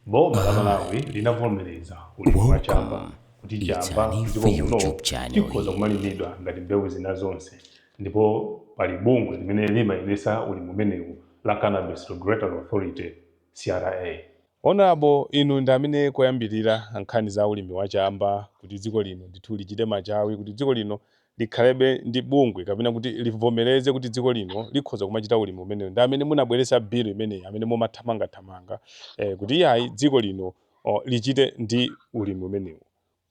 Boma la Malawi linavomereza ulimi wa chamba kuti chamba mdziko muno chikhoza kumalimidwa ngati mbewu zina zonse ndipo pali bungwe limene limayendetsa ulimi umenewu la Cannabis Regulatory Authority, CRA. Honourable inu ndi amene koyambirira nkhani za ulimi wa chamba kuti dziko lino ndithu lichite machawi kuti dziko lino likhalebe ndi bungwe kapena kuti livomereze kuti dziko lino likhoza kumachita ulimi umenewu ndi amene munabweretsa bill imeneyi amene mumathamangathamanga eh, kuti iyayi dziko lino oh, lichite ndi ulimi umenewu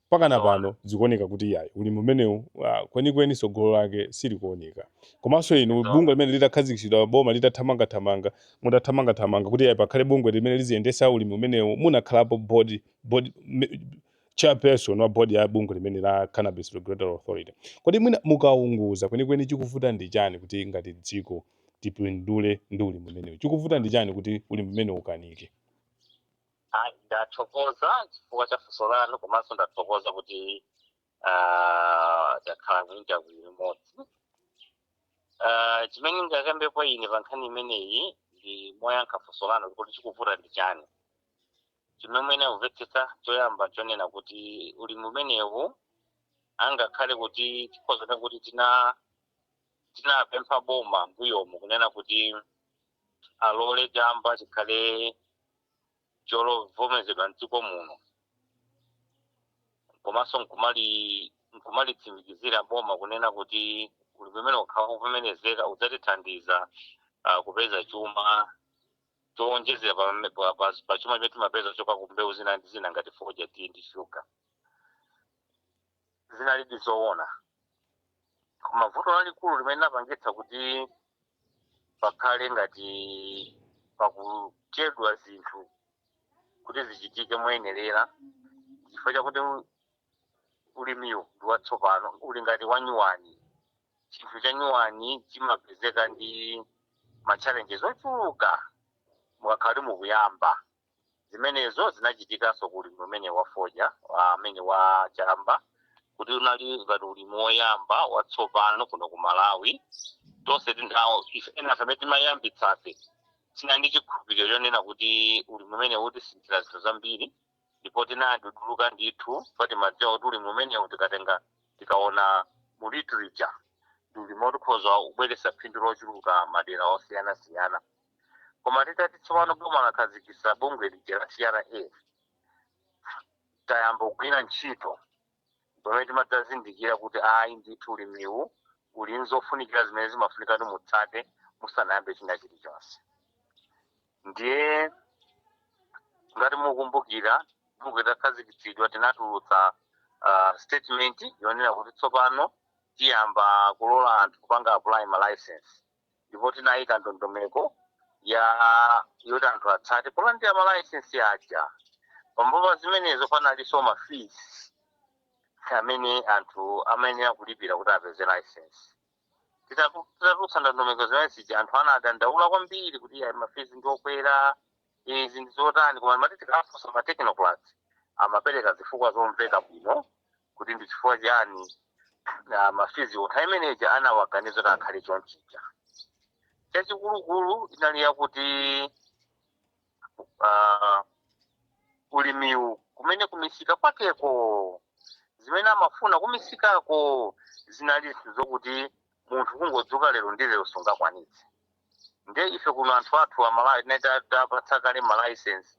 pakana Zoona. pano zikuoneka kuti iyayi ulimi umenewu ah, kwenikweni tsogolo lake silikuoneka komanso inu Zoona. bungwe limene litakhazikitsidwa boma litathamangathamanga mutathamangathamanga kuti iyayi pakhale bungwe limene liziyendetsa ulimi umenewu munakhalapo board, board, me- chairperson wa board ya bungwe limene la Cannabis Regulatory Authority, kodi mwina mukaunguza kwenikweni chikuvuta ndi chani kuti ngati dziko tipindule ndi ulimi umenewu? Chikuvuta ndi chani kuti ulimi umenewu ukanike? Ayi, ndathokoza chifukwa cha funso lanu komanso ndathokoza kuti ah, takhala ku interview limodzi Ah, chimene ndingakambepo ine pa nkhani imeneyi ndi moyankha funso lanu kuti chikuvuta ndi chani chimene mwayenera kumvetsetsa choyamba chonena kuti ulimi umenewu angakhale kuti tikhoza kunena kuti tina tinapempha boma mbuyomu kunena kuti alole chamba chikhale cholovomezedwa mdziko muno komanso nkumali nkumalitsimikizira boma kunena kuti ulimi umene ukakhala wovomerezeka udzatithandiza uh, kupeza chuma chowonjezera pa mme- pa- pa- pa chuma chimene timapeza kuchoka ku mbewu zina ndi zina ngati foja tiyi ndi shuga zinalidi zoona koma vuto lalikulu limene linapangitsa kuti pakhale ngati pakuchedwa zinthu kuti zichitike moyenerera chifukwa chakuti ulimiwu ndi watsopano uli ngati wanyuwani chinthu chanyuwani chimapezeka ndi machallenges ochuluka mukakhala kuti mukuyamba zimenezo zinachitikanso ku ulimi umene wafodya amene wa chamba kuti unali ngati ulimi woyamba watsopano kuno ku Malawi tonse tinawo ife ena amene timayambitsafe tinali ndi chikhulupiriro chonena kuti ulimi umene utisinthira zinthu zambiri ndipo tinaduduluka ndithu poti timadziwa kuti ulimi umenewu tikatenga tikaona mu literature ndi ulimi oti ukhoza kubweretsa phindu lochuluka madera osiyanasiyana koma titati tsopano boma lakhazikitsa bungwe lija la CRA tayamba kugwira ntchito pamene timadzazindikira kuti ayi ndithu ulimiwu uli nzofunikira zimene zimafunika kuti mutsate musanayambe china chilichonse ndiye ngati mukumbukira bungwe litakhazikitsidwa tinatulutsa uh, statement yonena kuti tsopano tiyamba kulola anthu kupanga apply ma license ndipo tinayika ndondomeko ya yoti anthu atsate polandira malaisensi aja pambuyo pa zimenezo panalinso ma fees amene anthu amayenera kulipira kuti apeze license Titaku- titatulutsa ndondomeko zimene zija anthu anadandaula kwambiri kuti ayi mafizi ndiokwera izi ndi zotani koma mati tikafunsa ma technocrats amapereka zifukwa zomveka bwino kuti ndi chifukwa chiyani ah, mafiziwo nthawi imene ija anawaganiza kuti akhale chonchija chachikulukulu inali yakuti ah, ulimiwu kumene kumisika kwakeko zimene amafuna kumisikako zinali zokuti munthu kungodzuka lero ndi lero sungakwanitse nde ife kuno anthu athu amalawi titawapatsa kale malaisensi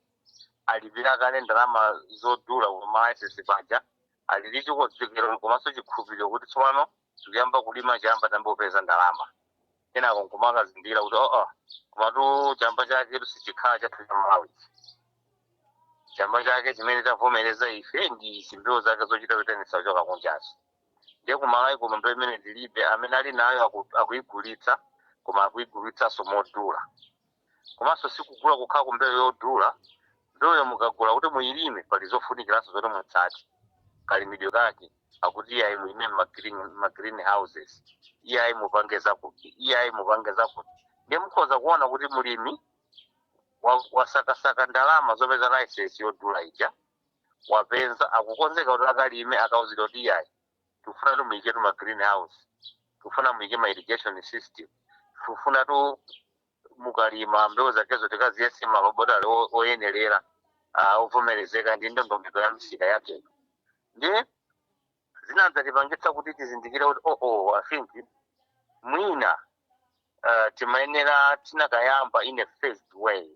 alipira kale ndalama zodula ku malaisensi paja ali ndi chikonzekero komanso chikhulupiriro kuti tsopano tikuyamba kulima chamba tiyambo kupeza ndalama kenako nkumakazindikira kuti oo komatu chamba chake sichikhala chathu cha malawi chamba chake chimene tavomereza ife ndi zimbewu zake zochita kuitanitsa kuchoka kunjazo ndiye kumalawi kuno mbewu imeneyi tilibe amene ali nayo aku- akuigulitsa koma akuigulitsanso modula komanso sikugula kukhala kumbewu yodula mbewuyo mukagula kuti muyilime pali zofunikiranso zoti mutsate kalimidwe kake akuti iyayi mulime ma green houses iyayi mupange zakuti iyayi mupange zakuti ndiye mukhoza kuona kuti mulimi wa- wasakasaka ndalama zopeza license yodula ija wapeza akukonzeka kuti akalime akauzidwa kuti iyayi tikufuna kuti muyike tima green house tikufuna muyike ma irrigation system tikufuna kuti mukalima mbewu zakezo tikaziyese m'malabotale o- oyenerera ah, ovomerezeka ndi ndondomeko ya misika yakeyo ndi zinadzatipangitsa kuti tizindikire kuti oo oh, oh, I think mwina uh, timayenera tinakayamba in a phased way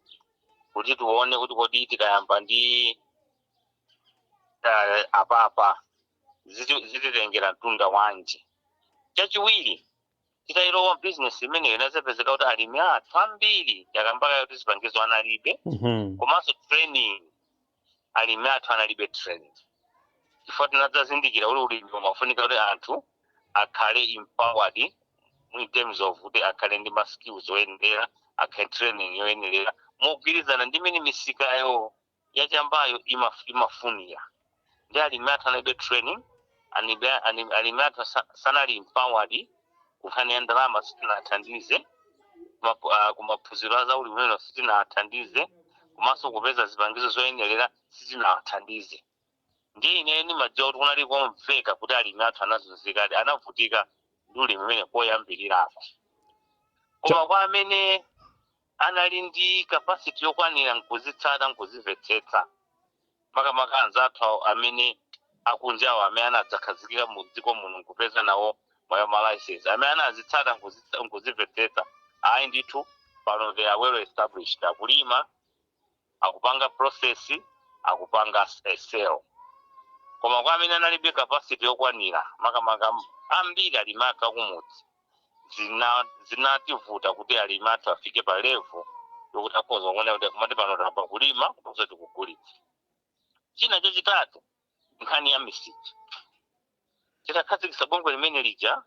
kuti tione kuti kodi tikayamba ndi uh, apapa ziti- zititengera mtunda wanji chachiwiri titayilowa bizinesi imeneyo inazapezeka kuti alimi athu ambiri takamba kale kuti zipangizo analibe Mhm. komanso training alimi athu analibe training chifukwa tinadzazindikira kuti ulimi umafunika kuti anthu akhale empowered in terms of kuti akhale ndi ma skills oyenelera akhale training yoyenelera mogwirizana ndi mmene misikayo ya chambayo imaf- imafunira ndiye alimi athu analibe training anibe- ani- alimi athu sa- sanali empowered kunkhani ya ndalama sitinawathandize Mapu- ah, kumaphunziro a zaulimi umenewu sitinawathandize komanso kupeza zipangizo zoyenelera sitinawathandize ndiye ine ndimadziwa kuti kunali komveka kuti alimi athu anazunzikadi anavutika ndi ulimi umenewu koyambirirako koma kwa amene anali ndi capacity yokwanira nkuzitsata nkuzivetsetsa makamaka anzathu awo amene akunjawo amene anadzakhazikira mu dziko muno nkupeza nawo ma ma license amene anazitsata nkuzitsa nkuzivetsetsa ayi ndithu pano they are well established akulima akupanga process akupanga a sell koma kwa amene analibe capacity yokwanira makamaka m- ambiri alimi athu akumudzi zina zinativuta kuti alimi athu afike pa level yokuti akhoza kuona kuti kumati pano tayamba kulima komanso tikugulitsa china chachitatu nkhani ya misika titakhazikitsa bungwe limene lija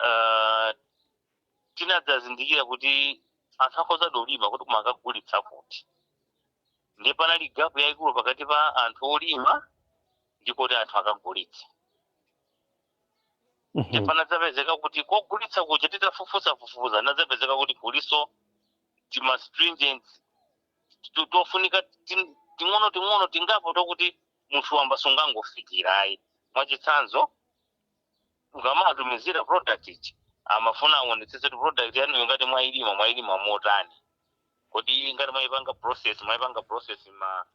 uh, tinadzazindikira kuti anthu akhozadi kulima kuti koma akagulitsa kuti ndiye panali gapu yayikulu pakati pa anthu olima ndi koti anthu akagulitsa mhm. ndi panadzapezeka kuti kogulitsa kuja titafufuza fufuza inadzapezeka kuti kulinso tima stringent tofunika ting'ono ting'ono tingapo tokuti munthu wamba sungangofikira ayi mwachitsanzo ukamatumizira product ija amafuna aonetsetse kuti product yanuyo ngati mwayilima mwayilima motani kodi ngati mwayipanga process mwayipanga process mma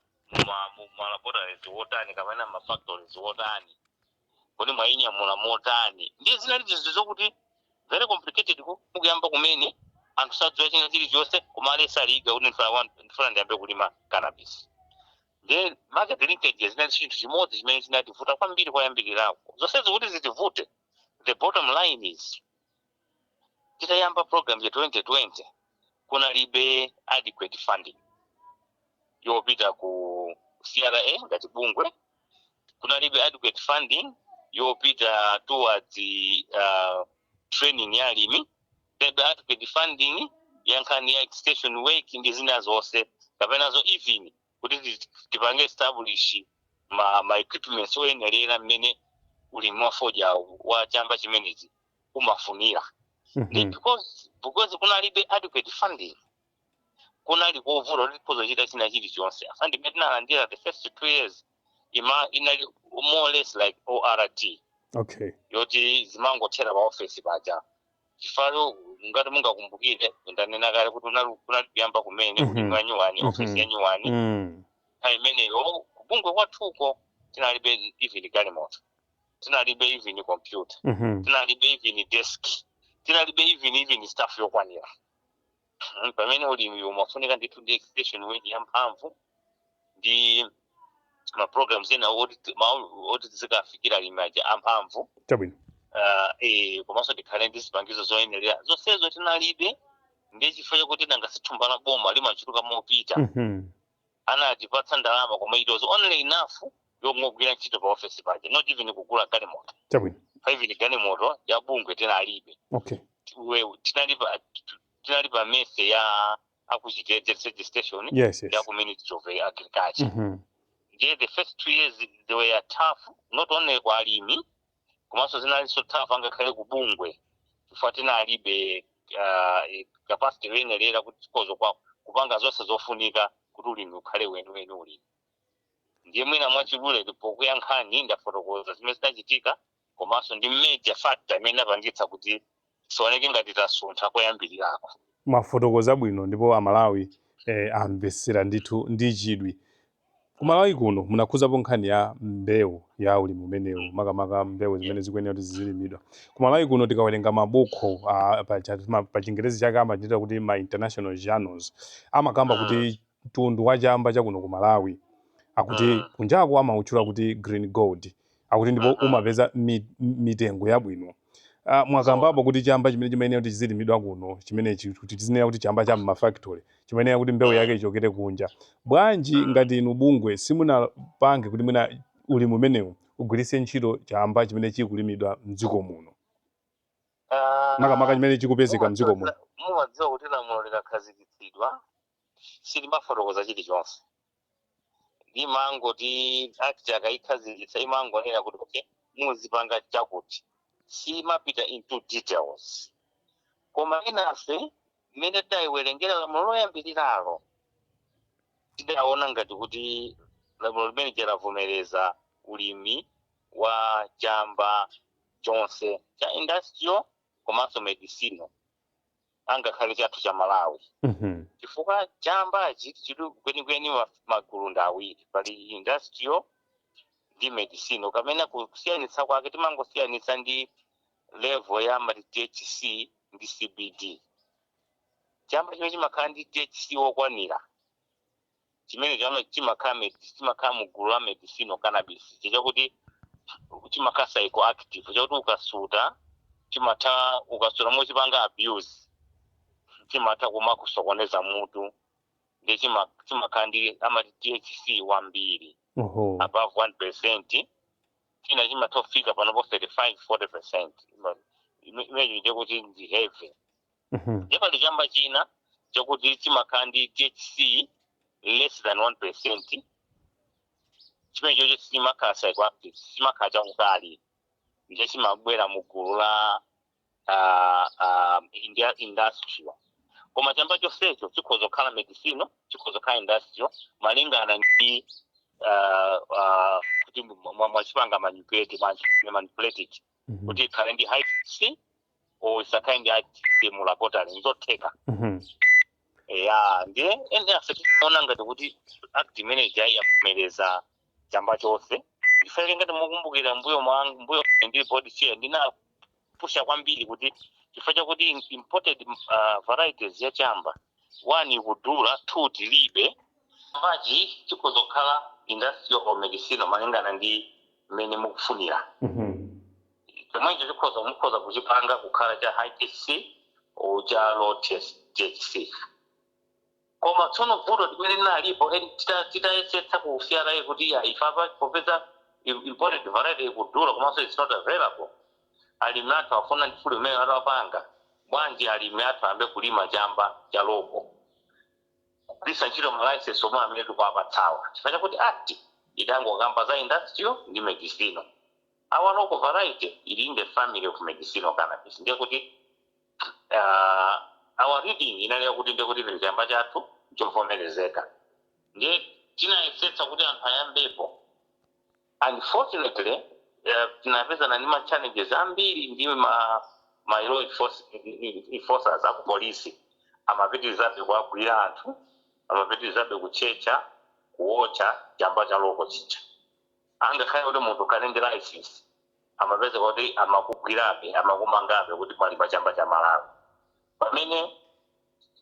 ma mu- ma laboratories wotani kapena ma factories wotani kodi mwayinyamula motani ndiye zinali zokuti very complicated ku- kuyamba kumene anthu sadziwa china chilichonse koma ali so eager kuti ndifuna wan- ndifuna ndiyambe kulima cannabis ndiye market linkages zinali chinthu chimodzi chimene chinativuta kwambiri koyambirirako zonsezi kuti zitivute the bottom line is titayamba program ya 2020 kunalibe adequate funding yopita ku CRA ngati bungwe kunalibe adequate funding yopita towards uh, training ya alimi Maybe adequate funding ya nkhani ya extension work ndi zina zonse kapenazo even kuti ti- tipange establish ma, ma equipments oyenerera mmene ulimi wa fodya wa chamba chimenechi umafunira ndi Mhm. because because kunalibe adequate funding kunali kovuta kuti ukazochita china chilichonse funding imene tinalandira the first two years ima inali more or less like ORT Okay. yoti zimangothera pa office paja chifukwa ngati mungakumbukire ndanena kale kuti unali kunali kuyamba kumene Mhm. ulimi wa nyuwani Mhm. ofesi ya nyuwani Mm. nthawi imeneyo kubungwe kwathuko tinalibe even galimoto tinalibe even computer Mhm. tinalibe even desk tinalibe even even staff yokwanira Mhm, pamene ulimi umafunika ndithu ndi extension work yamphamvu ndi ma programs ena oti ti- ma- oti tizikafikira alimi aja amphamvu chabwino uh, eh, komanso tikhale ndi zipangizo zoyenera zonsezo tinalibe ndiye chifukwa chakuti nanga sithumba la boma limachuluka mopita Mhm. anatipatsa ndalama koma it was only enough yongogwira ntchito pa office paja not even kugula galimoto chabwino pa even galimoto ya bungwe tinalibe okay Tiwe- tinali pa tinali pa mese ya aku Chitedze Research Station yes yes ya ku ministry of agriculture Mhm. ndiye the first two years they were tough not only kwa alimi komanso zinalinso tough ngakhale ku bungwe chifukwa tinalibe ah, eh, capacity yoyenerera kuti tikazokwakupanga zonse zofunika kuti ulimi ukhale weniweni ulimi ndiye mwina mwachidule pokuyankhani ndafotokoza zimene zinachitika komanso ndi major factor imene inapangitsa kuti Tisaoneke ngati tasuntha koyambilirako. Mwafotokoza bwino ndipo amalawi amvetsera ndithu ndi chidwi. Ku Malawi kuno munakhudzapo nkhani ya mbewu ya ulimi umenewu makamaka mbewu zimene zikuyenera kuti zizilimidwa. Ku Malawi kuno tikawerenga mabukhu a pa chingerezi chake amachitcha kuti ma international journals amakamba kuti mtundu wa chamba cha kuno ku Malawi akuti mm. kunjako amautchula kuti green gold akuti ndipo mm -hmm. umapeza mi, mitengo yabwino uh, mwakambapo kuti chamba chimene chimayenera kuti chizilimidwa kuno chimenechi kuti tizinena kuti chamba cha mmafactory chimayenera kuti mbewu yake ichokere kunja bwanji mm. ngati inu bungwe simunapange kuti mwina ulimi umenewu ugwiritse ntchito chamba chimene chikulimidwa mdziko muno ah, makamaka chimene chikupezeka mdziko muno mumadziwa kuti lamulo likakhazikitsidwa silimafotokoza chilichonse limangoti act akayikhazikitsa imangonena kuti okay muzipanga chakuti simapita into details koma enafe mmene tayiwerengera lamulo loyambiriralo tidaona ngati kuti lamulo limene ija lavomereza ulimi wa chamba chonse cha industrial komanso medicinal angakhale chathu cha malawi Mhm. chifukwa chambachi chili kwenikweni ma- magulu ndi awiri pali industrial ndi medicinal ukanena kusiyanitsa kwake timangosiyanitsa ndi level ya amati thc ndi cbd chamba chimene chimakhala ndi thc wokwanira chimenecho ama- chimakhala med- chimakhala mu gulu la medicinal cannabis chakuti chimakhala psychoactive chakuti ukasuta chimatha ukasuta mochipanga abuse chimatha kumakusokoneza mutu ndiye chima- chimakhala ndi amati thc wambiri oho above 1 percent china chimatha kufika panopo 35 40 percent imeneyo ndiye kuti ndi heavy Mhm. ndiye pali chamba china chakuti chimakhala ndi thc less than 1 percent chimene chocho chimakhala psychoactive chimakhala chakukali ndiye chimabwera mu gulu la ah, ah, india- industrial koma chamba chonsecho chikhoza kukhala medicinal chikhoza kukhala industrial malingana ndi ah, ah, kuti mwa- mwa- mwachipanga manipulate manipulated Mhm. kuti ikhale ndi high thc or isakhale ndi high thc mu laboratory nzotheka Mhm. ya ndiye enafe tinaona ngati kuti act imene ija yavomereza chamba chonse ife ngati mukumbukira mbuyo mwangu mbuyo ndi board chair ndinapusha kwambiri kuti chifukwa chakuti imported uh, varieties ya chamba 1 ikudula 2 tilibe. Chambachi chikhoza kukhala industrial or medicinal malingana ndi mmene mukufunira. Chomwecho chikhoza mukhoza kuchipanga kukhala cha high THC or cha low THC. Koma tsono vuto limene linalipo eni tita- titayesetsa ku CRA kuti ife apa popeza im- imported variety ikudula komanso it's not available Alimi athu afuna ndi fund imene atapanga bwanji alimi athu ayambe kulima chamba cha local kugwiritsa ntchito ma license omwe amene tikuwapatsawa chifukwa chakuti act idangokamba za industrial ndi medicinal. Our local variety ili in the family of medicinal cannabis ndiye kuti aah our reading inali yakuti ndiye kuti even chamba chathu nchovomerezeka ndiye tinayesetsa kuti anthu ayambepo. unfortunately tinapezana ndi ma challenges ambiri ndi ma ma law enforcers aku police amapitilizabe kuwagwira anthu amapitilizabe kutchetcha kuotcha chamba cha local chija angakhale kuti munthu ukhale ndi license amapezeka kuti amakugwirabe amakumangabe kuti mwalima chamba cha Malawi pamene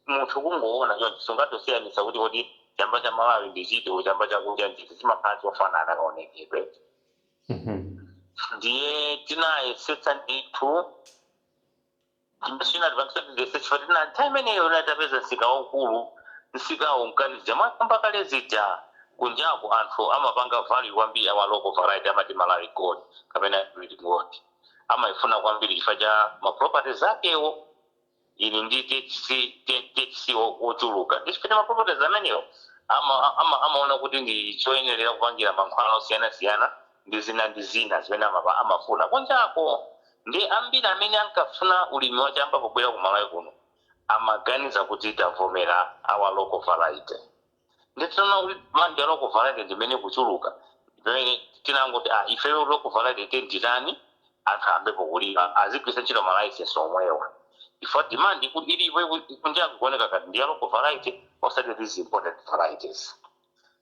munthu kungoona chonchi sungathe kusiyanitsa kuti kodi chamba cha Malawi ndi chiti olo chamba cha kunja nchiti chimakhala chofanana kaonekedwe ndiye tinayesetsa ndithu chimene chinatipangitsa kuti tiyesetse chifukwa tina nthawi imeneyo inali tapeza msika waukulu msikawo unkati zija mwakamba kale zija kunjaku anthu amapanga value kwambiri our local variety amati Malawi gold kapena green gold amaifuna kwambiri chifukwa cha ma properties akewo ali ndi THC, T- THC wo- wochuluka ndi chifukwa ma properties amenewo ama- ama- amaona kuti ndi choyenerera kupangira mankhwala osiyanasiyana ndi zina ndi zina zimene amapa- amafuna kunjako ndi ambiri amene ankafuna ulimi wa chamba pobwera ku malawi kuno amaganiza kuti tavomera our local variety Ndiye tinaona kuti demand ya local variety ndi imene ikuchuluka, ndi pamene tinangoti ah ifeyo local variety tiyeni titani, anthu ayambepo kulima, azigwiritsa ntchito ma licence omwewa chifukwa demand iku ilipo iku kunja ikuoneka ngati ndi ya local variety osati these imported varieties.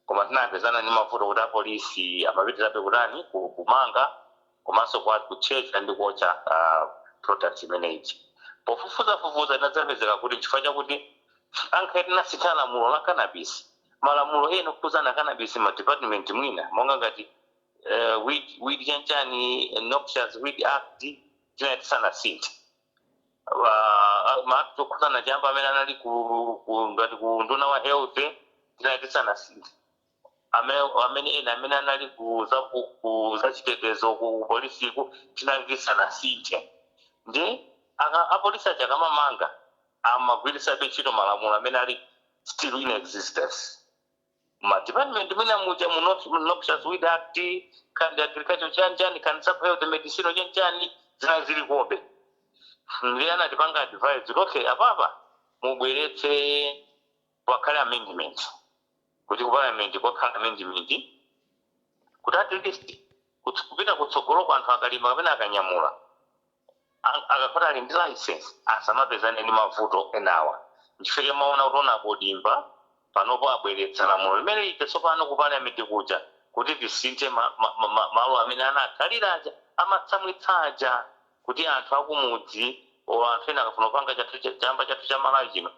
Koma tinapezana ndi mavuto kuti apolisi amapitirizabe kutani, ku kumanga. komanso kwa kutchetcha ndi kuotcha product imene ija. Pofufuza fufuza inadzapezeka kuti nchifukwa chakuti ankhale tinasitha lamulo la cannabis, malamulo ena okhudzana cannabis ma department mwina monga ngati weed weed chani chani noxious weed act tinali tisanasinthe ma act okhudzana chamba amene anali ku ku ngati ku unduna wa health tinali tisanasinthe. amene amene ena amene anali ku za ku ku zachitetezo ku polisiku tinali tisanasinthe ndi aka apolisi aja akamamanga amagwiritsabe ntchito malamulo amene ali still in existence m'ma department mwina muja mu North- mu noxious weed act kandi agriculture chanichani kandi sub health medicine chanichani zinali zilikobe ndi anatipanga advise kuti okay apapa mubweretse pakhale amendment kuti ku parliament kukhale amendment kuti at least kuts- kupita kutsogoloko anthu akalima kapena akanyamula a- akakhala ali ndi license asamapezane ndi mavuto enawa nchifukwa chake mwaona kuti honourable Dimba panopo abweretsa lamulo limene lija tsopano ku parliament kuja kuti tisinthe ma, ma, ma, ma, malo amene anakhalira aja amatsamwitsa aja kuti anthu akumudzi o anthu ena akafuna kupanga chathu cha- chamba chathu cha malawi chino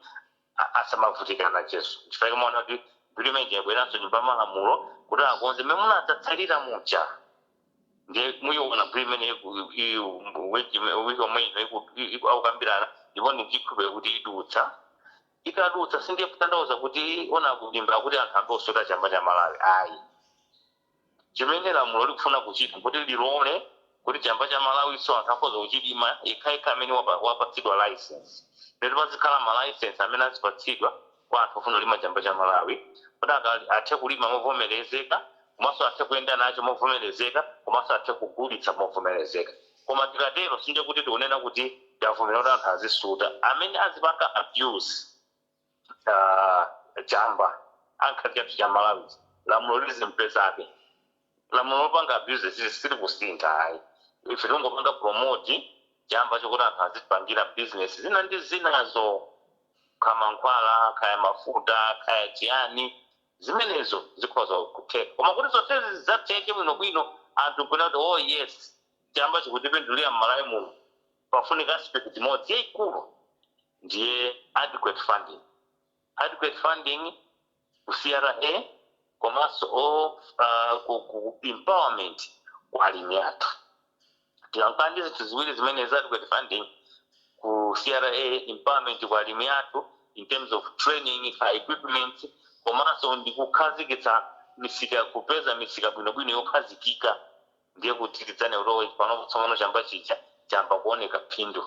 asamavutike nachonso nchifukwa chake mwaona kuti bill imene ija yabweranso nyumba yamalamulo kuti akonze mmene munatsalira muja ndiye muyiona bill imeneyi ku- i- i- week ime- week yomwe ino iku- i- iku- akukambirana ndipo ndikukhulupirira kuti idutsa ikadutsa sindiye kutanthauza kuti wanena kudimba kuti anthu ayambe kusuta chamba cha malawi ayi Chimene lamulo likufuna kuchita nkuti lilole kuti chamba cha Malawiso anthu akhoza kuchilima yekhayekha amene wapatsidwa licence. Nde pazikhala ma licence amene azipatsidwa kwa anthu ofuna kulima chamba cha Malawi kuti athe kulima movomelezeka komanso athe kuyenda nacho movomelezeka komanso athe kugulitsa movomelezeka. Koma tikatero sindiye kuti tikunena kuti tavomera kuti anthu azisuta. Amene azipanga abuse. a chamba angakhale chathu cha malawi lamulo lizimpezabe lamulo lopanga abuse si- silikusintha ayi ife tingopanga promote chamba chokuti anthu azipangira business zina ndi zinazo kha mankhwala khaya mafuta khaya chiyani zimenezo zikhoza kutheka koma kuti zonsezi zidzatheke bwinobwino anthu nkunati oh yes chamba chikutipindulira mmalawi muno pafunika aspect imodzi yaikulu ndiye adequate funding. Adequate funding ku CRA komanso ku ku empowerment kwa alimi athu. Tikakhala ndi zinthu ziwiri zimenezi adequate funding ku CRA, empowerment kwa alimi athu in terms of training, equipments komanso ndi kukhazikitsa misika, kupeza misika bwinobwino yokhazikika ndiye kuti tidzanena kuti panopa tsopano chamba chija chayamba kuoneka phindu.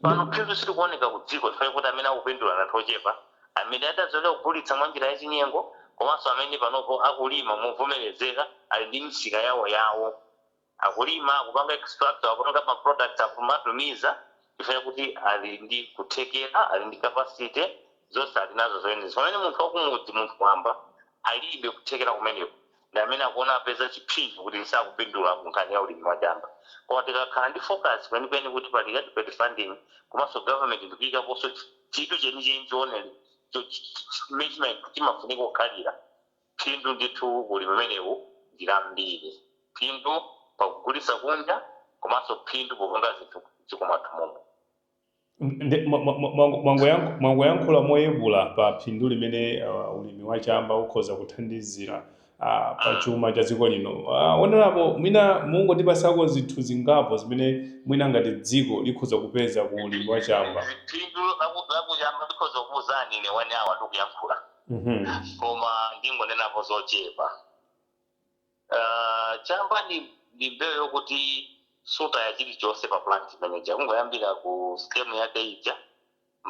Pano phindu silikuoneka kudziko chifukwa chakuti amene akupindula ndi anthu ochepa, amene adazolowera kugulitsa mwa njira yachinyengo komanso amene panopo akulima movomerezeka, ali ndi misika yawoyawo. Akulima, akupanga extract, akupanga ma products, akumatumiza chifukwa chakuti ali ndi kuthekera, ali ndi capacity, zonse ali nazo zoyenera. Pamene munthu wakumudzi, munthu wamba, alibe kuthekera kumeneku. ndi amene akuona apeza chiphinjo kuti sakupindula ku nkhani ya ulimi wa chamba. Koma tikakhala ndi focus kwenikweni kuti pali adequate funding komanso government ndikuyikaponso chidwi chenicheni chimene chimene chimafunika kukhalira, phindu ndithu ku ulimi umenewu ndi lambiri. Phindu pakugulitsa kunja komanso phindu popanga zinthu m'dziko mwathu momwe. Nde- mwa- mwa- mwa- mwa- mwangoyank- mwangoyankhula moyepula pa phindu limene ah, ulimi wa chamba ukhoza kuthandizira ah, pa chuma cha dziko lino Ah, poonjezerapo mwina mungotipasako zinthu zingapo zimene mwina ngati dziko likhoza kupeza ku ulimi wa chamba phindu laku- lakuchamba ndikhoza kukuuzani ine one hour ndikuyankhula Mhm. koma ndingonenapo zochepa Uh, chamba ndi, ndi mbewu yokuti sutaya chilichonse pa plant imene ija kungoyambira ku stem yake ija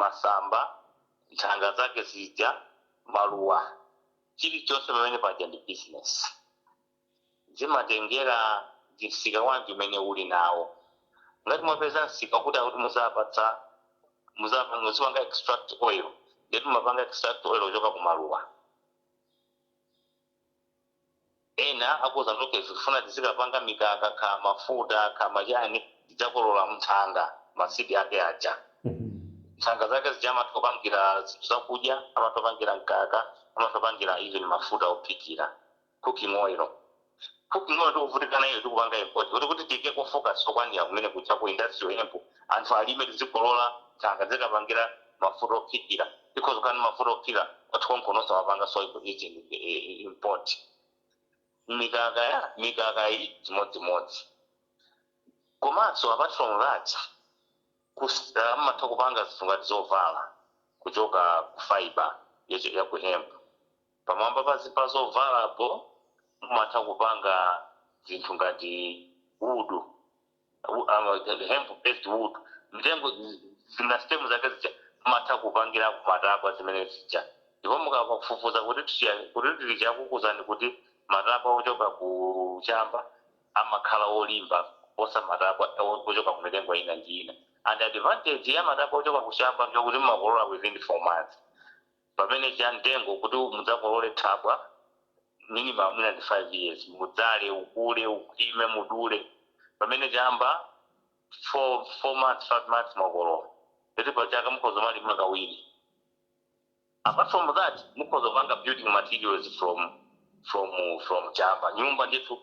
masamba nthanga zake zija maluwa chilichonse pamene paja ndi business zimatengera ndi msika wanji umene uli nawo ngati mwapeza msika kuti akuti muzapatsa muzapa- muzipanga extract oil ndeti mumapanga extract oil kuchoka ku maluwa Ena akuuzani kuti okay tikufuna tizikapanga mikaka kaya mafuta kaya machani tidzakolola nthanga ma seed ake aja. Nthanga zake zija amatha kupangira zinthu zakudya, amatha kupangira mkaka, amatha kupangira even mafuta ophikira, cooking oil. Cooking oil tikuvutika nayo tikupanga import kuti kuti tiikeko focus yokwanira kumene kuja ku industrial hemp anthu alime tizikolola nthanga tizikapangira mafuta ophikira tikhoza kukhala ndi mafuta ophikira kwathu konkuno osawapangaso ku easily eh, eh, import mikaka ya mikaka iyi chimodzimodzi komanso apart from that kus- ah, amatha kupanga zinthu ngati zovala kuchoka ku fiber yacho- ya ku hemp pamwamba pa zi- pa zovalapo mumatha kupanga zinthu ngati wood u- um, the hemp based wood mitengo zi- zina stem zake zija mumatha kupangirako matabwa zimene zija ndipo mukafufuza kuti ticha- kuti literature ikukuuzani kuti matabwa ochoka ku chamba amakhala olimba kuposa matabwa o- ochoka ku mitengo ina ndi ina and advantage ya matabwa ochoka ku chamba ndiyokuti mumakolola within four months pamene cha mtengo kuti mudzakolole thabwa minimum mwina ndi 5 years mudzale ukule ukhwime mudule pamene chamba 4 4 months 5 months mwakolola ndeti pa chaka mukhoza kumalima kawiri apart from that mukhoza kupanga building materials from from from chamba nyumba ndithu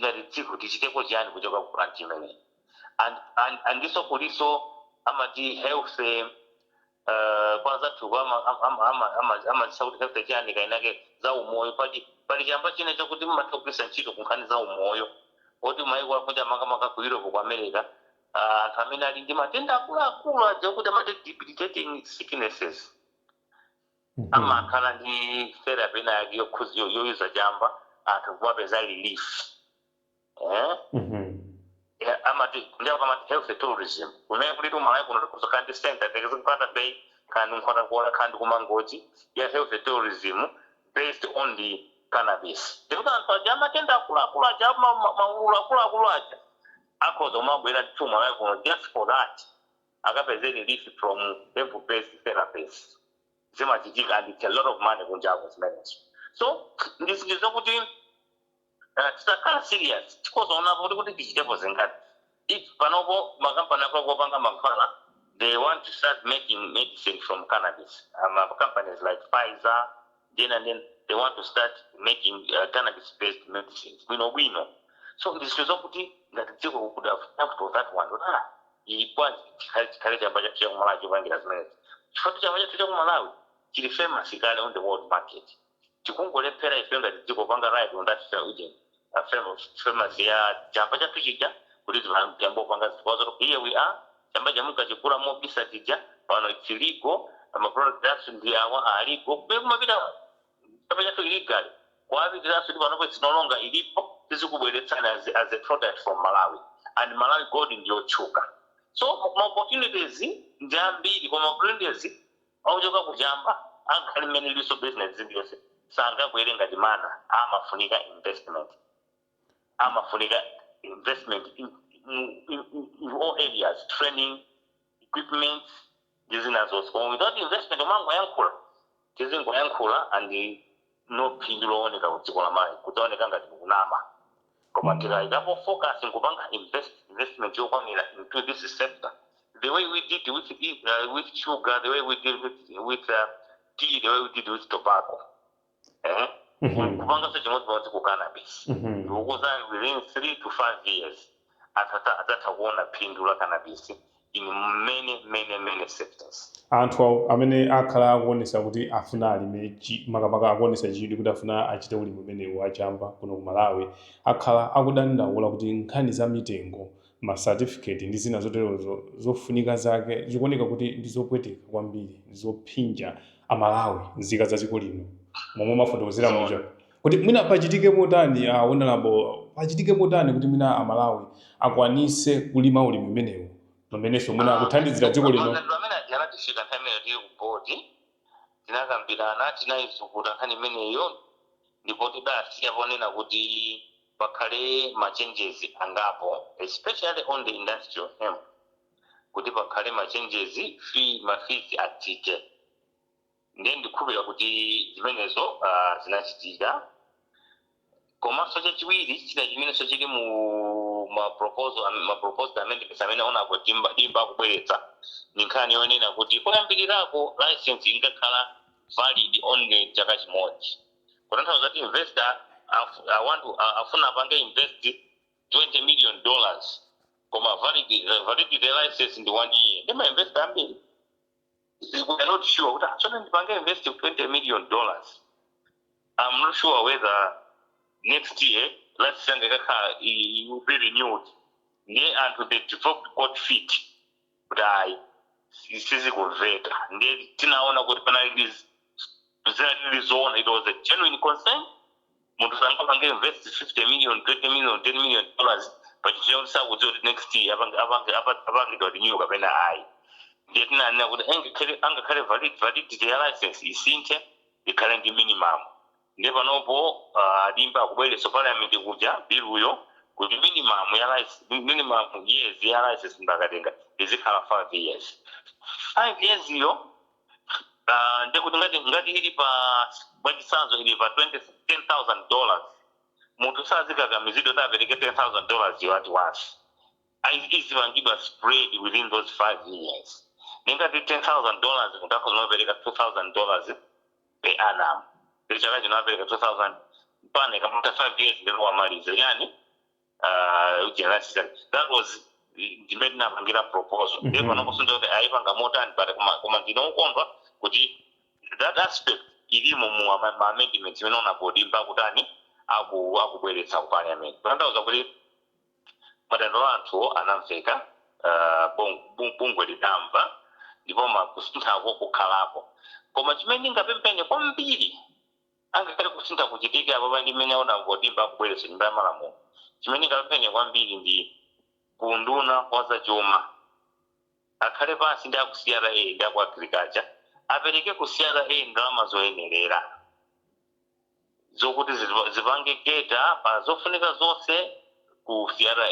ngati dziko tichiteko chiyani kuchoka ku plant imeneyi and, and, andiso kuliso amati health uh, kwa anzathuko amazitcha ama, ama, ama, ama amazitcha kuti health chiyani kainake za umoyo pali pali chamba china chakuti mmatha kugwiritsa ntchito ku nkhani za umoyo oti maiko akunja makamaka ku europe ku america ah, anthu amene ali ndi matenda akuluakulu aja kuti amati debilitating sicknesses amakhala ndi therapy ina yake yokhudza yo- yoyuza chamba anthu kumapeza relief eh? Eh, amati kunjako amati health tourism kumene kuti ku malawi kuno tikhoza kukhala ndi center tiyerekeze ku nkhata bay khala ndi nkhotakota khala ndi ku mangochi ya health tourism based on the cannabis ndikuti anthu aja amatenda akuluakulu aja ma- ma- maululu akuluakulu aja akhoza kumabwera ku malawi kuno just for that akapeze relief from hemp based therapies zimachitika and its a lot of money kunjako zimenezo so ndi zinthu zokuti uh, tisakhala serious tikadzaonapo kuti kuti tichitepo zingati if panopo makampani akuluakulu opanga mankhwala they want to start making medicine from cannabis uh, ma companies like pfizer then and then they want to start making uh, cannabis based medicines bwino bwino so ndi zinthu zakuti ngati dziko we could have jumped on that one kuti ah iyi bwanji chikhale chikhale chamba chathu cha kumalawi chopangira zimenezi chifukwa chamba chathu cha kumalawi chili famous kale on the world market tikungolephera ife ngati dziko kupanga ride on that agent a fellow famous ya chamba chathu chija kuti tiyambe kupanga zinthu kwa zoti here we are chamba chomwe mumkachigula mobisa chija pano it's legal ma product athu ndi awa a legal komwe kumapita chamba chathu illegally kukapitiranso kuti panopo it's no longer illegal tizikubweretsani as, as a product from Malawi and Malawi gold ndiyotchuka so ma opportunities ndi ambiri koma opportunities Ochoka ku chamba angakhale mmene ilinso business iliyonse sangagwere ngati mana amafunika investment amafunika investment in mu in in all areas training equipment ndi zina zonse koma without investment timangoyankhula tizingoyankhula and no phindu lowoneka ku dziko la Malawi kudzaoneka ngati kunama koma mm. tikayikapo focus nkupanga invest investment yokwanira into this sector the way we did with, uh, with sugar the way we did with, with uh, tea the way we did with tobacco eh? mm -hmm. kupanganso chimodzimodzi ku cannabis mm -hmm. ndikukuuzani within 3 to 5 years Anthu adzatha kuona phindu la cannabis in many many many sectors. Anthu amene akhala akuonesa kuti afuna alime chi makamaka akuonesa chidwi kuti afuna achite ulimi umenewu wa chamba kuno ku Malawi akhala akudandaula kuti nkhani za mitengo, ma certificate ndi zina zoterozo zofunika zake zikuoneka kuti ndi zopweteka kwambiri, ndi zophinja a Malawi, nzika za dziko lino. Momwe mwafotokozera muja Zoona. Kodi mwina pachitike motani a honorable pachitike motani kuti mwina a Malawi akwanise kulima ulimi umenewu pamenenso mwina akuthandizira dziko lino? Maganizo amene aja anatifikira nthawi imeneyo tili ku board tinakambirana tinayizukuta nkhani imeneyo ndipo tidasiya ponena kuti pakhale ma changes angapo especially on the industrial hemp kuti pakhale ma changes fee ma fees atsike. Ndiye ndikhulupirira kuti zimenezo a, zinachitika. Komanso chachiwiri, china chimenenso chili mu ma proposal am- ma proposed amendments amene Honorable Dimba Dimba akubweretsa ndi nkhani yonena kuti koyambirirako license inkakhala valid only chaka chimodzi kutanthauza kuti investor afu- I want to- a- afuna apange invest 20 million dollars koma valid, validity license ndi one year ndi ma investor ambiri we are not sure kuti sono ndipange invest 20 million dollars i'm not sure whether next year license yanga ikakhala i- i- will be renewed ndiye anthu they developed cold feet kuti ayi si- sizikumveka ndiye tinaona kuti penalties zinali zoona it was a genuine concern munthu sangapange invest 50 million 20 million 10 million dollars pa chinthu choti sakudziwa kuti next year apange- apange- apa- apangidwa renew kapena ayi ndiye tinanena kuti angakhale angakhale valid- validity ya license isinthe ikhale ndi minimum Ndiye panopo a Dimba akubweretsa Parliament kuja biluyo kuti minimum ya lice, minimum years ya license munthu akatenga izikhala 5 years. 5 years yo a ndiye kuti ngati ngati ili pa mwachitsanzo ili pa 20, 10000 dollars munthu sazikakamizidwa kuti apereke 10000 dollars yo at once ayi izipangidwa spread within those 5 years. Ndiye ngati 10000 dollars munthu akhoza kumapereka 2000 dollars. per annum ndiye chaka chino apereka 2000 mpaka ikamatha 5 years ndiye wamaliza chani uh, ujira license. That was ndimene ndinapangira proposal ndiye Mhm. pano kufunsa kuti ayipanga motani but koma- koma ndinokondwa kuti that aspect ilimo mu ama- ma amendments imene Honorable Dimba akutani aku akubweretsa ku parliament kutanthauza kuti Madandaula anthuwo anamveka, bungwe lidamva ndipo ma kusinthako kukhalapo. Koma chimene ndingapemphe ine kwambiri angakhale kusintha kuchitike apapa ndi mmene Honorable Dimba akubweretsa nyumba ya malamulo, chimene ndingapemphe ine kwambiri ndi ku unduna wa za chuma akhale pansi ndi a ku CRA ndi a ku Agriculture apereke ku CRA ndalama zoyenerera. zokuti zili- zipange cater pa zofunika zonse ku CRA,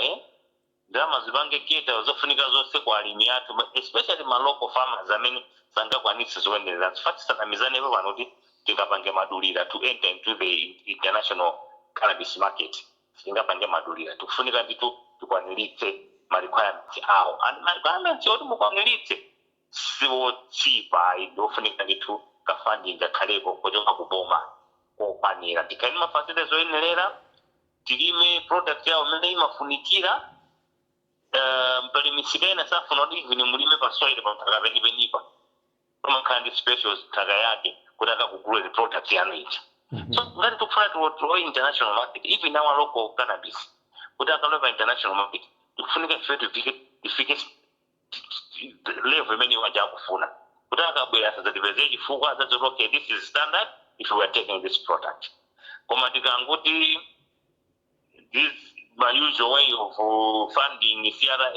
ndalama zipange cater pa zofunika zonse ku alimi athu ma- especially ma local farmers amene sangakwanitse zoyenererazo. Chifukwa tisanamizanepo pano kuti tingapange madulira to enter into the in- international cannabis market, sitingapange madulira. Tikufunika ndithu tikwaniritse ma requirements awo. And ma requirements oti mukwaniritse siwochipa ayi ndiofunika ndithu ka funding kakhaleko kochoka ku boma kokwanira tikhale ndi ma facilities oyenerera tilime product yawo mmene imafunikira Eh, pali misika ina safuna kuti even mulime pa soil pa nthaka penipenipa pamakhala ndi special nthaka yake kuti akakuguleni product yanu ija so ngati tikufuna ti-woo international market even our local cannabis kuti akalowe pa international market tikufunika ife tifike level imene iwo aja akufuna kuti akabwera asadzatipezere chifukwa adzangoti okay this is standard if we are taking this product koma tikangoti the same usual way of uh, funding CRA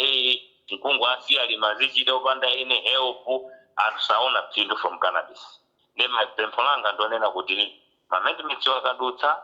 nkungowasiya alimi azichita opanda any help anthu saona phindu from cannabis nde pempho langa ndonena kuti amendments akadutsa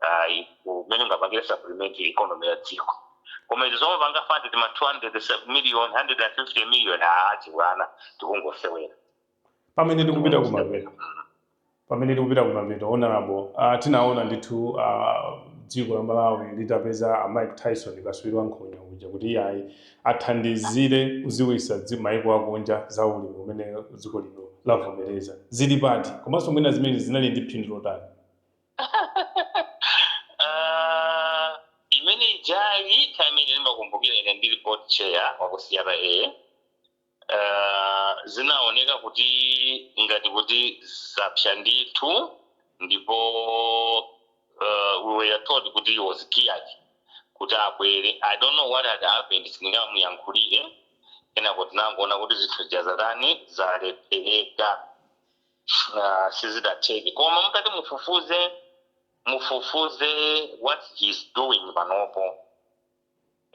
ayi umene ungapangire supplement economy ya dziko koma izi zomapanga fund tima 200 se- million 150 million aa chibwana tikungosewera pamene tikupita kumapeto pamene tikupita kumapeto honorable uh, tinaona ndithu uh, dziko la malawi litapeza a mike tyson katswiri wa nkhonya uja kuti iyayi athandizire kudziwitsa dzi- maiko akunja za ulimi umene dziko lino lavomereza zili pati komanso mwina zimene zinali ndi phindu lotani Ah, imene ijayi time imene ija ndimakumbukira ine ndili board chair wa ku CRA ah, zinaoneka kuti ngati kuti zapsa ndithu ndipo ah, we were told kuti he was geared kuti abwere i don't know what had happened sindingamuyankhulire kenako tinangoona kuti zinthu zija zatani zalephereka Ah, sizidatheke koma mutati mufufuze mufufuze what he is doing panopo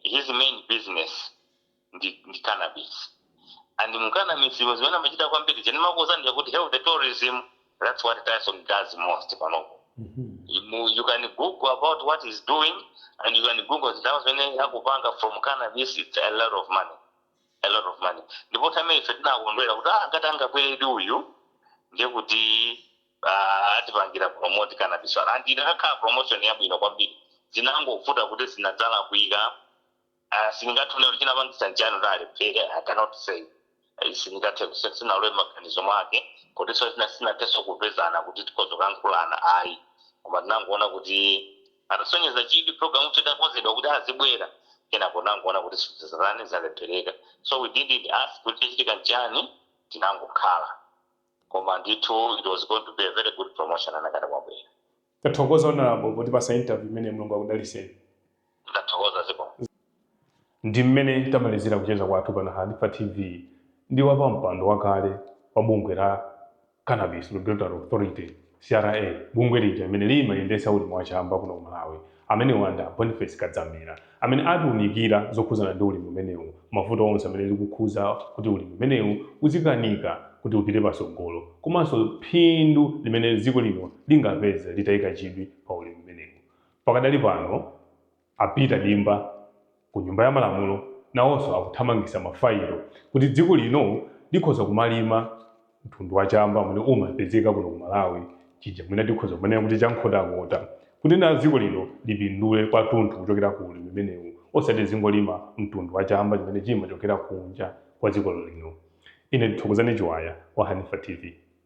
his main business ndi, ndi cannabis and mu cannabis mo zimene amachita kwambiri nzimene ndimakuuzani kuti health tourism that's what Tyson does most panopo you, you can google about what he's doing and you can google zinthu zimene akupanga from cannabis it's a lot of money a lot of money ndipo time ife tinakondwera kuti ah ngati angabweredi uyu ndiye kuti ah, atipangira promote cannabis and inakakhala promotion yabwino kwambiri zinangovuta kuti zinadzalakwika uh, sindingathe kunena kuti chinapangisa nchani kuti alephere i cannot say Eh, sindingathe kuse- sinalowe maganizo mwake kutinso sina- sinathenso kupezana kuti tikhoza kulankhulana ayi koma tinangoona kuti Atasonyeza chidwi program itakonzedwa kuti azibwera kenako tinangoona kuti zinazake zalephereka so we didn't ask kuti chachitika nchani tinangokhala koma ndithu it was going to be a very good promotion anakakhala wabwera. Tathokoza Honourable potipasa interview imeneyi Mulungu akudaliseni. Ndathokoza zikomo. Ndimmene tamalizira kucheza kwathu pano Hanifa TV ndi wapampando wakale wa bungwe la. Cannabis Regulatory Authority, CRA, bungwe lija limene limayendetsa ulimi wa chamba kuno ku Malawi, amenewa ndi a Boniface Kadzamira amene atiunikira zokhudzana ndi ulimi umenewu, mavuto onse amene likukhudza kuti ulimi umenewu uzikanika kuti upite patsogolo komanso phindu limene dziko lino lingapeze litaika chidwi pa ulimi umenewu. Pakadali pano. A Peter Dimba ku nyumba ya malamulo nawonso akuthamangisa ma failo kuti dziko lino likhoza kumalima mtundu wa chamba umene umapezeka kuno ku Malawi chija mwina tikhoza kumanena kuti cha Nkhotakota kuti na dziko lino lipindule kwathunthu kuchokera ku ulimi umenewu osati lizingolima mtundu wa chamba chimene chimachokera kunja kwa dziko lino. Ine ndi Thokozani Chiwaya wa Hanifa TV.